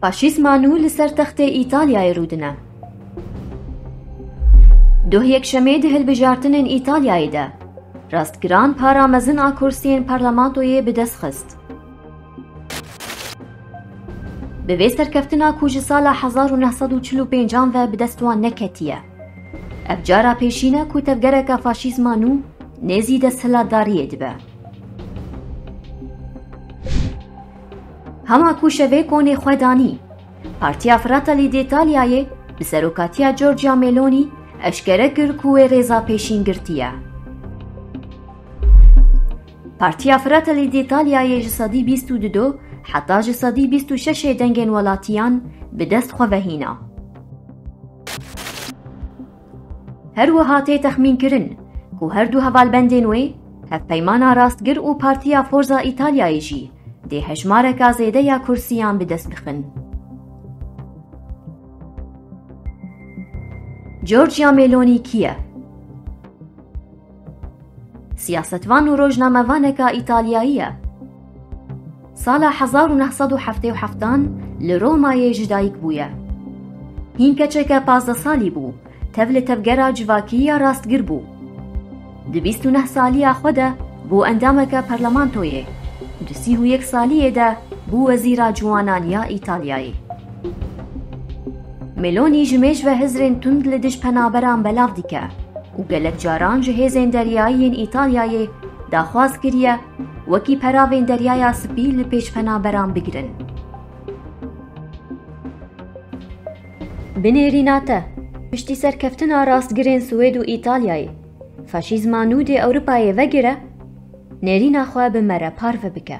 Faşîzma nû li ser textê Îtalyayê rû dine. Duh Yekşemê di hilbijartinên Îtalyayê de rastgiran para mezin a kursiyên parlamentoyê bi dest xist. Bi vê serkeftina ku ji sala hezar û neh sed û çil û pêncan ve bi dest wan neketiye. Ev cara pêşîn e ku tevgereka faşîzma nû nêzî desthilatdariyê dibe. Hema ku şevê konê xwe danî, Partiya Fratelli d'Italiayê bi serokatiya Giorgia Meloni eşkere kir ku wê rêza pêşîn girtiye. Partiya Fratelli d'Italiayê ji sedî bîst û du heta ji sedî bîst û şeşê dengên welatiyan bi dest xwe vehîna. Her wiha tê texmînkirin ku her du hevalbendên wê, Hevpeymana Rastgir û Partiya Forza Îtalyayê jî dê hejmareke zêde ya kursiyan bi dest bixin. Giorgia Meloni kî ye? Siyasetvan û rojnamevaneka Îtalyayî ye. Sala hezar û neh sed û heftê û heftan li Romayê ji dayik bûye. Hîn keçeke pazdeh salî bû, tev li tevgera civakî ya rastgir bû. Di bîst û neh saliya xwe de bû endameke parlamentoyê, di sîh û yek saliyê de bû wezîra ciwanan ya Îtalyayê. Meloni ji mêj ve hizrên tund li dij penaberan belav dike. û gelek caran ji hêzên deryayî yên Îtalyayê daxwaz kiriye wekî peravên Deryaya Spî li pêş penaberan bigirin. Binêrîna te, piştî serkeftina rastgirên Swêd û Îtalyayê, faşîzma nû dê Ewropayê vegire, nêrîna xwe bi me re parve bike.